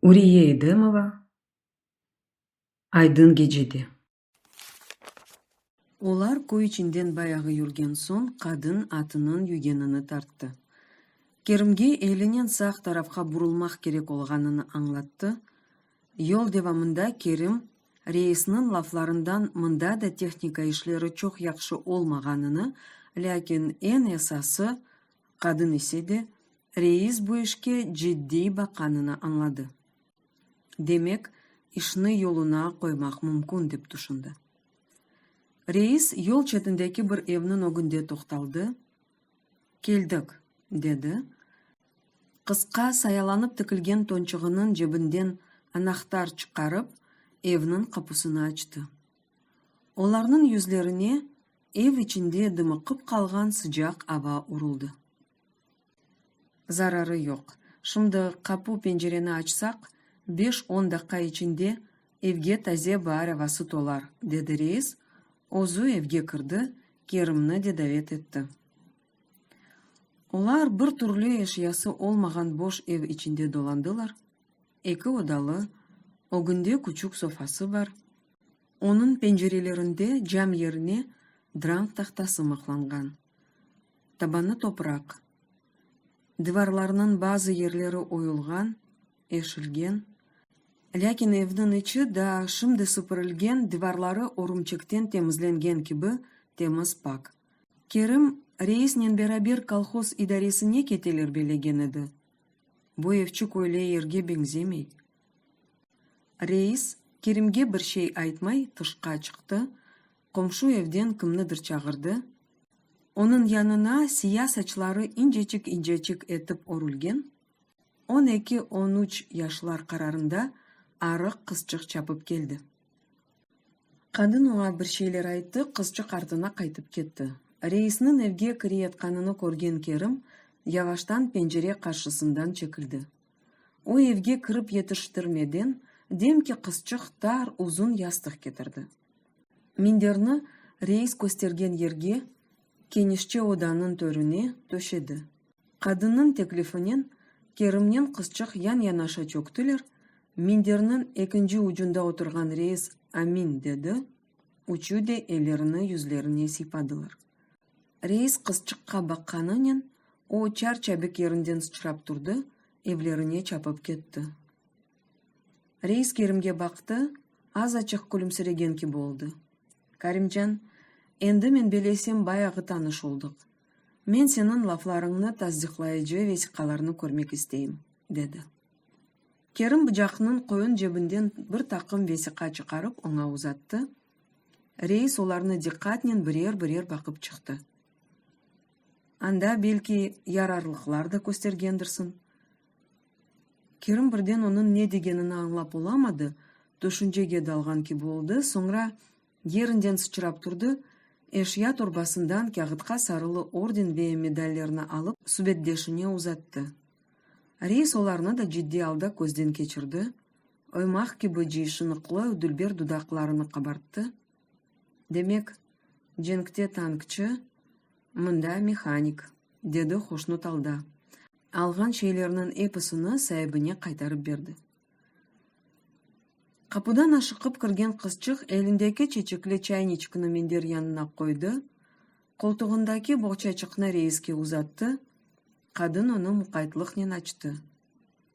Uriye İdemova, Aydın gecede. Olar köy içinden bayağı yürgen soñ qadın atınıñ yügenini tarttı. Kerimge elinen sağ tarafqa burulmaq kerek olğanını añlattı. Yol devamında Kerim, reisniñ laflarından mında da tehnika işleri çoq yahşı olmağanını, lâkin eñ esası, Qadın ise de, reis bu işke ciddiy baqanını añladı. Demek, işni yoluna qoymaq mümkün, dep tüşündi. Reis yol çetindeki bir evniñ ögünde toqtaldı, Keldik, dedi, qısqa sayalanıp tikilgen tonçuğınıñ cebinden anahtar çıqarıp, evniñ qapusını açtı. Olarnıñ yüzlerine Ev içinde dımıqıp qalğan sıcaq ava uruldı. Zararı yoq. Şimdi qapu-pencereni açsaq, beş-on daqqa içinde evge taze baar avası tolar, dedi reis, özü evge kirdi, Kerimni de davet etti. Olar bir türlü eşyası olmağan boş ev içinde dolandılar, eki odalı, ögünde küçük sofası bar, Onıñ pencerelerinde cam yerine drang tahtası mıqlanğan. Tabanı topraq. Divarlarnıñ bazı yerleri oyulğan, eşilgen. Lâkin evniñ içi daa şimdi süpürilgen, divarları örümçekten temizlengen kibi temiz, pak. Kerim reisnen beraber kolhoz idaresine keteler belegen edi. Bu evçik öyle yerge beñzemey, Reis, Kerimge bir şey aytmay, tışqa çıqtı, qomşu evden kimnidir çağırdı. Onıñ yanına siya saçları incecik-incecik etip örülgen, on eki, on üç yaşlar qararında arıq qızçıq çapıp keldi. Qadın oña bir şeyler ayttı, qızçıq artına qaytıp ketti. Reisniñ evge kireyatqanını körgen Kerim yavaştan pencere qarşısından çekildi. O evge kirip yetiştirmeden demki qızçıq tar uzun yastıq ketirdi. Minderni reis köstergen yerge, kenişçe odanıñ törüne, töşedi. Qadınnıñ teklifinen Kerimnen qızçıq yan-yanaşa çöktüler, minderniñ ekinci ucunda oturğan reis Amin dedi, üçü de ellerini yüzlerine siypadılar. Reis qızçıqqa baqqanınen, o çar-çabik yerinden sıçrap turdı, evlerine çapıp ketti. Reis Kerimge baqtı, az-açıq külümsiregen kibi oldı. Karimcan, endi men belesem bayağı tanış oldıq. Men seniñ laflarıñnı tasdiqlayıcı vesiqalarnı körmek isteyim, dedi. Kerim bıcaqnıñ qoyun cebinden bir taqım vesiqa çıqarıp oña uzattı, reis olarnı diqqatnen birer-birer baqıp çıqtı. Anda, belki, yararlıqlar da köstergendirsiñ? Kerim birden onıñ ne degenini añlap olamadı, tüşüncege dalğan kibi oldı, soñra Yerinden sıçrap turdı, eşya torbasından kâğıtqa sarılı orden ve medallerni alıp, subetdeşine uzattı. Reis olarnı da ciddiy alda közden keçirdi, oymaq kibi ciy şınıqlı dülber dudaqlarını qabarttı, Demek, cenkte tankçı, mında mehanik, dedi hoşnut alda, alğan şeylerniñ episini saibine qaytarıp berdi. Qapıdan aşıqıp kirgen qızçıq elindeki çeçekli çayniçknı minder yanına qoydı, qoltuğındaki boğçaçıqnı reiske uzattı, qadın onı muqaytlıqnen açtı.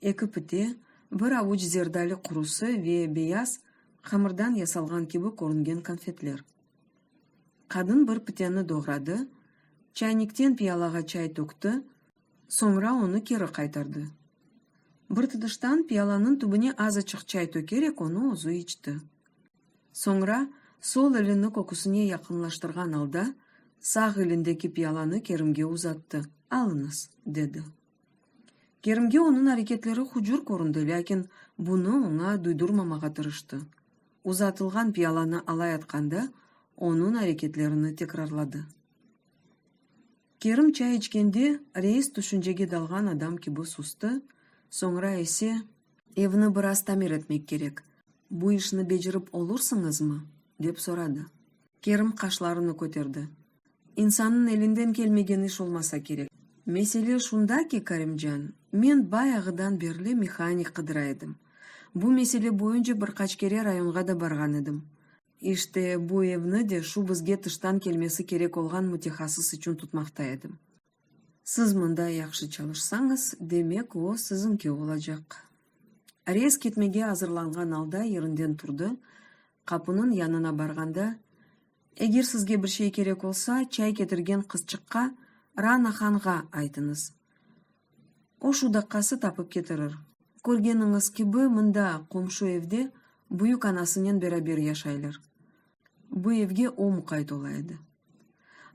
Eki pite, bir avuç zerdali qurusı ve beyaz, hamırdan yasalğan kibi körüngen konfetler. Qadın bir piteni doğradı, çaynikten piyalağa çay tökti, Soñra onı keri qaytardı. Bir tuduştan piyalanıñ tübüne azaçıq çay tökerek onı özü içti. Soñra, sol elini köküsine yaqınlaştırğan alda, sağ elindeki piyalanı Kerimge uzattı, alıñız, dedi. Kerimge onıñ areketleri hucur köründi, lâkin bunı oña duydurmamağa tırıştı, uzatılğan piyalanı alayatqanda onıñ areketlerini tekrarladı. Kerim çay içkende reis tüşüncege dalğan adam kibi sustı, soñra ise. Evni biraz tamir etmek kerek, bu işni becerip olursıñızmı? dep soradı. Kerim qaşlarını köterdi. İnsannıñ elinden kelmegen iş olmasa kerek. Mesele şunda ki, Kerimcan, men bayağıdan berli mehanik qıdıra edim. Bu mesele boyunca bir qaç kere rayonğa da barğan edim. İşte, bu evni de şu bizge tıştan kelmesi kerek olğan mütehassıs içün tutmaqta edim. Siz mında yahşı çalışsañız, demek, o, siziñki olacaq. Reis ketmege azırlanğan alda yerinden turdı, qapınıñ yanına barğanda, Eger sizge bir şey kerek olsa, çay ketirgen qızçıqqa, Rana hanğa aytıñız. O şu daqqası tapıp ketirir. Körgeniñiz kibi, mında, qomşu evde, büyük anasınen beraber yaşaylar. Bu evge o muqayt ola edi.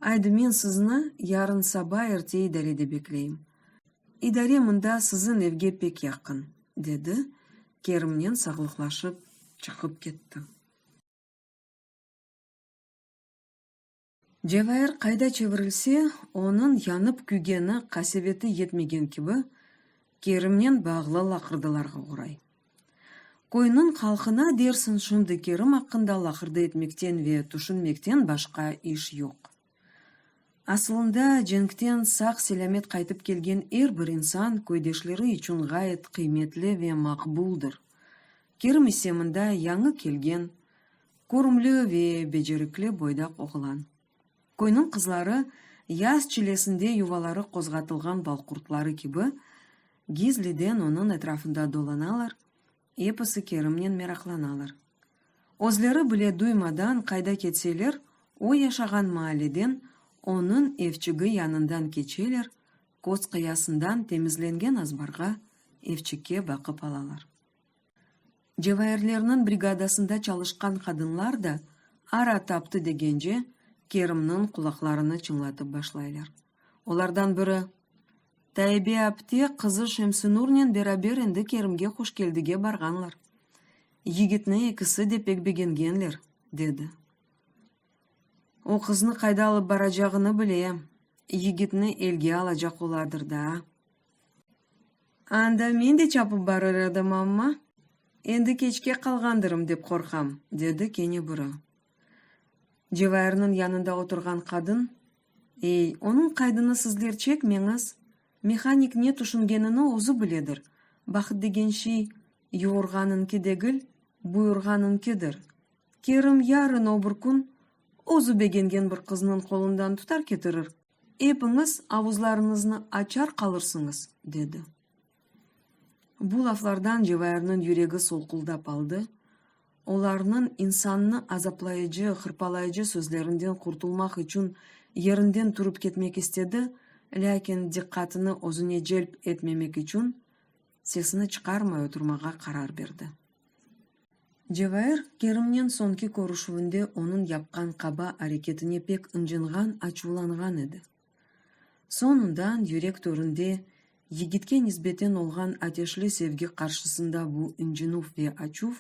Aydı, men sizni yarın saba erte idarede bekleyim. İdare mında, siziñ evge pek yaqın, dedi, Kerimnen sağlıqlaşıp çıqıp ketti. Cevahir qayda çevirilse, onıñ yanıp-küygeni qaseveti yetmegen kibi, Kerimnen bağlı laqırdılarğa oğray. Köyniñ halqına, dersiñ, şimdi Kerim aqqında laqırdı etmekten ve tüşünmekten başqa iş yoq. Asılında, cenkten sağ-selâmet qaytıp kelgen er bir insan köydeşleri içün ğayet qıymetli ve maqbuldır. Kerim ise mında yañı kelgen, körümli ve becerikli boydaq oğlan. Köyniñ qızları yaz çilesinde yuvaları qozğatılğan balqurtları kibi, gizliden onıñ etrafında dolanalar, episi Kerimnen meraqlanalar. Özleri bile duymadan qayda ketseler, o yaşağan maalleden, onıñ evçigi yanından keçeler, köz qıyasından temizlengen azbarğa, evçikke baqıp alalar. Cevahirlerniñ brigadasında çalışqan qadınlar da ara taptı degence, Kerimniñ qulaqlarını çıñlatıp başlaylar. Olardan biri, Taibe apte qızı Şemsinurnen beraber endi Kerimge Quşkeldige barğanlar. Yigitni ekisi de pek begengenler, dedi. O qıznı qayda alıp baracağını bile, yigitni elge alacaq oladır da. Anda men de çapıp barır edim, amma, endi keçke qalğandırım dep qorqam, dedi kene biri. Cevahirniñ yanında oturğan qadın, Ey, onıñ qaydını sizler çekmeñiz, mehanik ne tüşüngenini özü biledir, bahıt degen şey yuğurğanıñki degil, buyurğanıñkidir. Kerim yarın-öbür kün özü begengen bir qıznıñ qolundan tutar ketirir. Epiñiz avuzlarıñıznı açar qalırsıñız, dedi. Bu laflardan Cevayırnıñ yüregi solquldap aldı, olarnıñ insannı azaplayıcı, hırpalayıcı sözlerinden qurtulmaq içün yerinden turıp ketmek istedi, lâkin diqqatını özüne celp etmemek içün sesini çıqarmay oturmağa qarar berdi. Cevahir Kerimnen soñki körüşüvinde onıñ yapqan qaba areketine pek ıncınğan, açuvlanğan edi. Soñundan yürek töründe yigitke nisbeten olğan ateşli sevgi qarşısında bu ıncınuv ve açuv,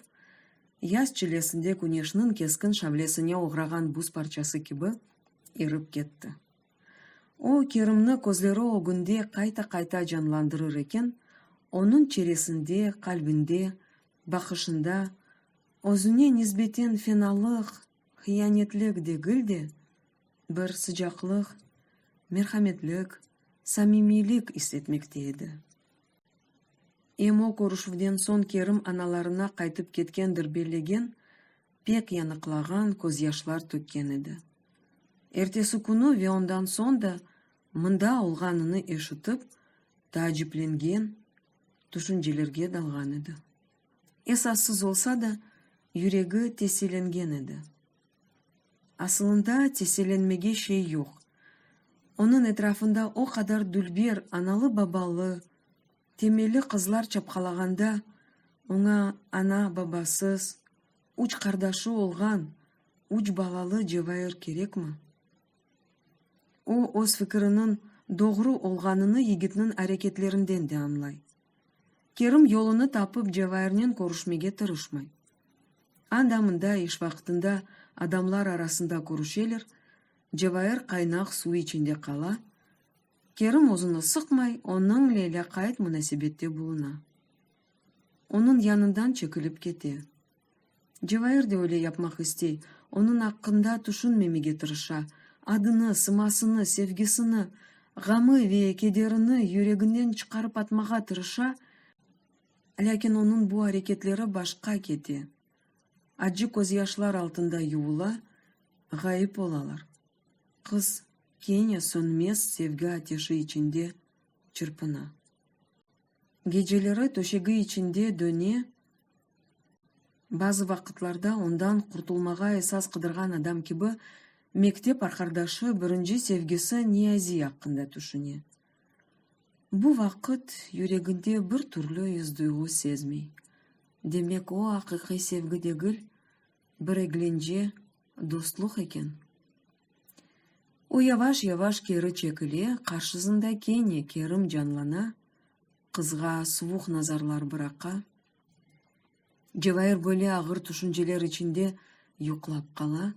yaz çilesinde küneşniñ keskin şavlesine oğrağan buz parçası kibi, erip ketti. O, Kerimni közleri ögünde qayta-qayta canlandırır eken, onıñ çeresinde, qalbinde, baqışında, özüne nisbeten fenalıq, hıyanetlik degil de, bir sıcaqlıq, merhametlik, samimiylik is etmekte edi. Em o körüşüvden soñ Kerim analarına qaytıp ketkendir bellegen, pek yanıqlağan közyaşlar tökken edi. Ertesikünü ve ondan soñ da mında olğanını eşitip, taaciplengen tüşüncelerge dalğan edi. Esassız olsa da, yüregi tesielengen edi. Asılında tesielenmege şey yoq, onıñ etrafında o qadar dülber analı-babalı Temelli qızlar çapqalağanda, oña ana, babasız, üç qardaşı olğan, üç balalı Cevair kerekmi? O, öz fikiriniñ doğru olğanını yigitniñ areketlerinden de añlay. Kerim yolunı tapıp Cevairnen körüşmege tırışmay. Anda-mında iş vaqtında adamlar arasında körüşeler, Cevair qaynaq suv içinde qala, Kerim özüni sıqmay, onıñle lâqayt munasebette buluna. Onıñ yanından çekilip kete. Cevahir de öyle yapmaq istey, onıñ aqqında tüşünmemege tırışa, adını, sımasını, sevgisini, ğamı ve kederini yüreginden çıqarıp atmağa tırışa, lâkin onıñ bu areketleri başqa kete, acı közyaşlar altında yuvula, ğayıp olalar. Qız kene sönmez sevgi ateşi içinde çırpına. Geceleri töşegi içinde döne, bazı vaqıtlarda ondan qurtulmağa esas qıdırğan adam kibi mektep arqardaşı, birinci sevgisi Niyazi aqqında tüşüne. Bu vaqıt yüreginde bir türlü iz-duyğu sezmey. Demek, o, aqiqiy sevgi degil, bir eglence dostluq eken. O yavaş-yavaş keri çekile, qarşısında kene Kerim canlana, qızğa suvuq nazarlar bıraqa. Cevahir böyle ağır tüşünceler içinde yuqlap qala.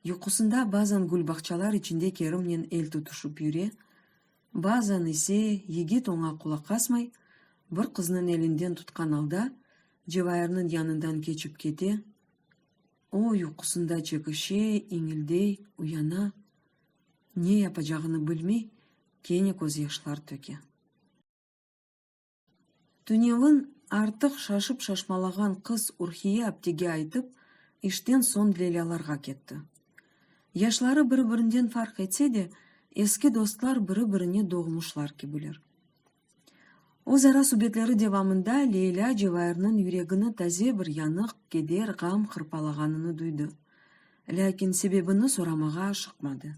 Yuqusında bazan gülbaqçalar içinde Kerimnen el tutuşıp yüre, Bazan ise yigit oña qulaq asmay, bir qıznıñ elinden tutqan alda, cevayırnıñ yanından keçip kete. O, uyqusında çekişe, iñildey, uyana. Ne yapacağını bilmey, kene közyaşlar töke. Tünevin artıq şaşıp-şaşmalağan qız Urhiye aptege aytıp, işten soñ Lelâlarğa ketti. Yaşları biri-birinden farq etse de, eski dostlar biri-birine doğmuşlar kibiler. Özara subetleri devamında Leyla Cevairniñ yüregini taze bir yanıq, keder, ğam hırpalağanını duydı. Lâkin sebebini soramağa aşıqmadı.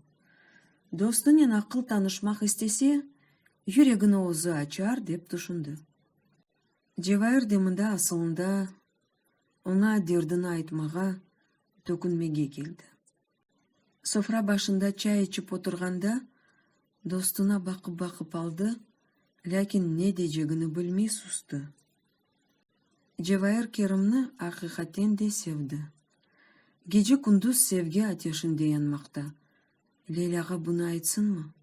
Dostunen aqıl tanışmaq istese, Yüregini özü açar, dep tüşündi. Cevahir de mında asılında oña derdini aytmağa, tökünmege keldi. Sofra başında çay içip oturğanda dostuna baqıp-baqıp aldı, lâkin ne decegini bilmey sustı. Cevahir Kerimni aqiqaten de sevdi. Gece-kündüz sevgi ateşinde yanmaqta, Leylâğa bunı aytsınmı?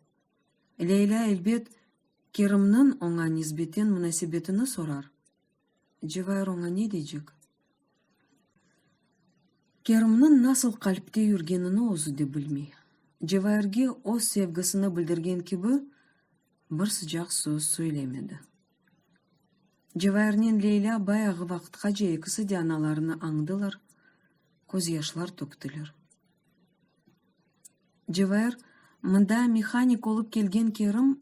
Leylâ, elbet, Kerimniñ oña nisbeten munasebetini sorar. Cevahir oña ne deycek? Kerimniñ nasıl qalpte yürgenini özü de bilmey. Cevahirge öz sevgisini bildirgen kibi, bir sıcaq söz söylemedi. Cevahirnen Leylâ bayağı vaqıtqace ekisi de analarını añdılar, közyaşlar töktiler. Cevher, mında mehanik olıp kelgen Kerim,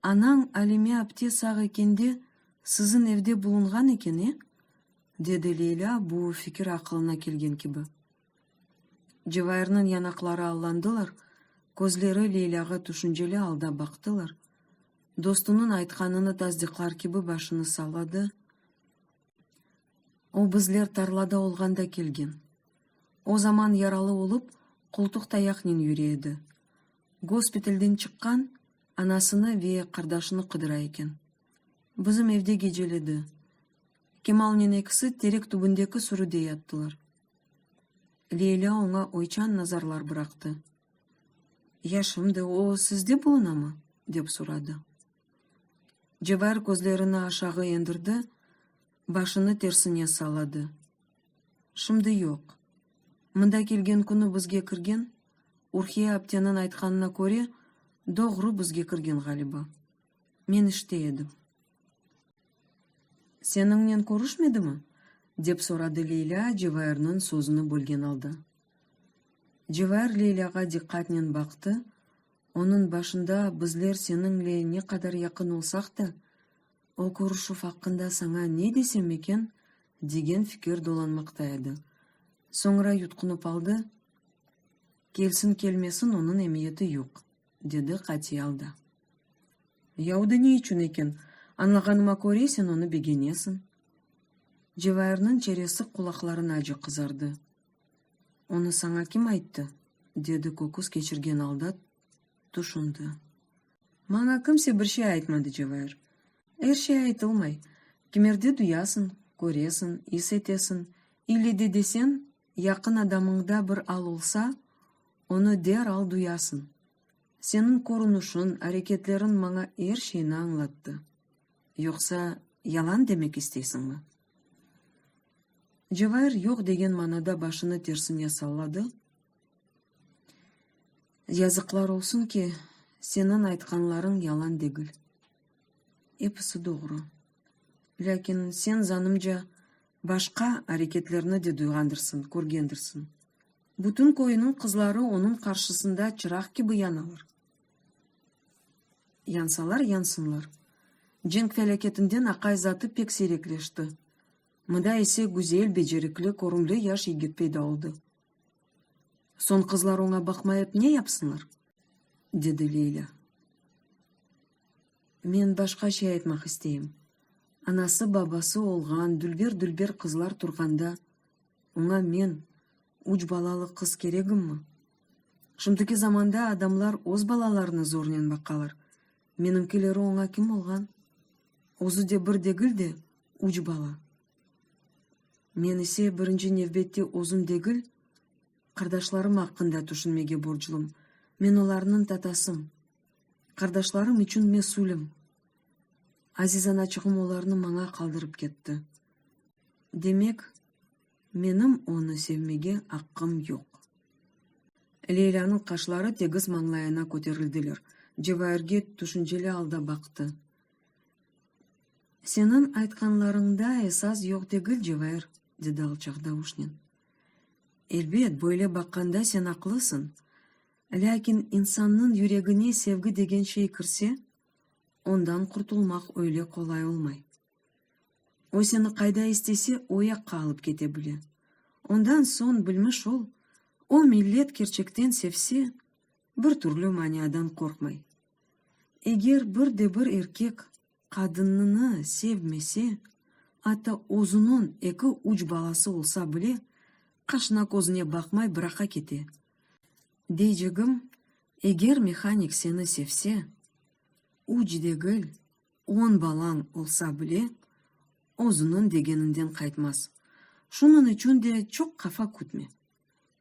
anañ Alime apte sağ ekende, siziñ evde bulunğan eken, e? dedi Leylâ bu fikir aqılına kelgen kibi. Cevherniñ yanaqları allandılar, közleri Leylâğa tüşünceli alda baqtılar. Dostunıñ aytqanını tasdiqlar kibi başını salladı. O bizler tarlada olğanda kelgen. O zaman yaralı olıp, qoltuq tayaqnen yüre edi. Gospitelden çıqqan, anasını ve qardaşını qıdıra eken. Bizim evde geceledi. Kemalnen ekisi terek tübündeki sürüde yattılar. Leyla oña oyçan nazarlar bıraqtı. Ya şimdi o sizde bulunamı? dep soradı. Cebar közlerini aşağı endirdi, başını tersine salladı. Şimdi yoq. Mında kelgen künü bizge kirgen, Urhiye apteniñ aytqanına köre, doğru bizge kirgen ğaliba. Men işte edim. Seniñnen körüşmedimi? dep soradı Leylâ Cevairniñ sözüni bölgen alda. Cevair Leylâğa diqqatnen baqtı, Onıñ başında bizler seniñle ne qadar yaqın olsaq da, o körüşüv aqqında saña ne desem eken, degen fikir dolanmaqta edi. Soñra yutqunıp aldı, Kelsin-kelmesin, onıñ emiyeti yoq, dedi qatiy alda. Ya o da ne içün eken? Añlağanıma köre, sen onı begenesiñ. Cevairniñ çeresi qulaqlarınace qızardı. Onı saña kim ayttı? dedi köküs keçirgen alda tüşündi. Maña kimse bir şey aytmadı, Cevahir. Er şey aytılmay. Kimerde duyasıñ, köresiñ, is etesiñ, ile de deseñ, yaqın adamıñda bir al olsa, onı deral duyasıñ. Seniñ körünüşiñ, areketleriñ maña er şeyni añlattı. Yoqsa, yalan demek isteysiñmi? Cevahir yoq degen manada başını tersine salladı, Yazıqlar olsun ki, seniñ aytqanlarıñ yalan degil. Episi doğru. Lâkin sen, zanımca, başqa areketlerni de duyğandırsıñ, körgendirsiñ. Bütün köyüniñ qızları onıñ qarşısında çıraq kibi yanalar. Yansalar yansınlar. Cenk felâketinden aqay zatı pek siyrekleşti. Mıda ise güzel, becerikli, körümli yaş yigit peyda oldı. Soñ qızlar oña baqmayıp ne yapsınlar? dedi Leylâ. Men başqa şey aytmaq isteyim. Anası, babası olğan dülber-dülber qızlar turğanda, oña men, üç balalı qız keregimmi? Şimdiki zamanda adamlar öz balalarına zornen baqalar. Menimkileri oña kim olğan? Özü de bir degil de, üç bala. Men ise birinci nevbette özüm degil, qardaşlarım aqqında tüşünmege borclum. Men olarnıñ tatasım. Qardaşlarım içün mesülim. Aziz anaçığım olarnı maña qaldırıp ketti. Demek. Menim onı sevmege aqqım yoq. Leylânıñ qaşları tegiz mañlayına köterildiler. Cevairge tüşünceli alda baqtı. Seniñ aytqanlarıñda esas yoq degil, Cevair, dedi alçaq davuşnen. Elbet, böyle baqqanda sen aqlısıñ. Lâkin insannıñ yüregine sevgi degen şey kirse, ondan qurtulmaq öyle qolay olmay. O seni qayda istese, o yaqqa alıp kete bile. Ondan soñ bilmiş ol, o millet kerçekten sevse, bir türlü maniadan qorqmay. Eger bir de bir erkek qadınnını sevmese, ata özüniñ eki-üç balası olsa bile, qaşına-közüne baqmay bıraqa kete. Deycegim, eger mehanik seni sevse, üç degil, On balañ olsa bile, özüniñ degeninden qaytmaz. Şunıñ içün de çoq qafa kütme.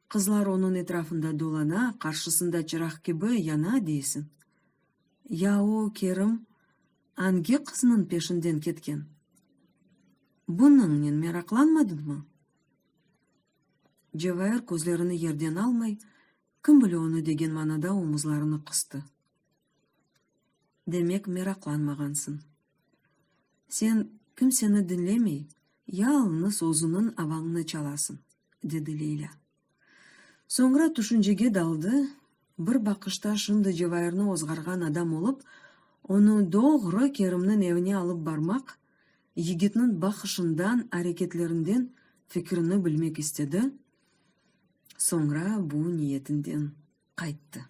Qızlar onıñ etrafında dolana, qarşısında çıraq kibi yana deysiñ. Ya o, Kerim, angi qıznıñ peşinden ketken? Bunıñnen meraqlanmadıñmı? Cevahir közlerini yerden almay, kim bile onı degen manada omuzlarını qıstı. Demek, meraqlanmağansıñ. Sen kimseni diñlemey, yalñız özüniñ avañnı çalasıñ, dedi Leylâ. Soñra tüşüncege daldı, bir baqışta şimdi Cevairni ozğarğan adam olıp, onı doğru Kerimniñ evine alıp barmaq, yigitniñ baqışından, areketlerinden fikirini bilmek istedi, soñra bu niyetinden. qayttı.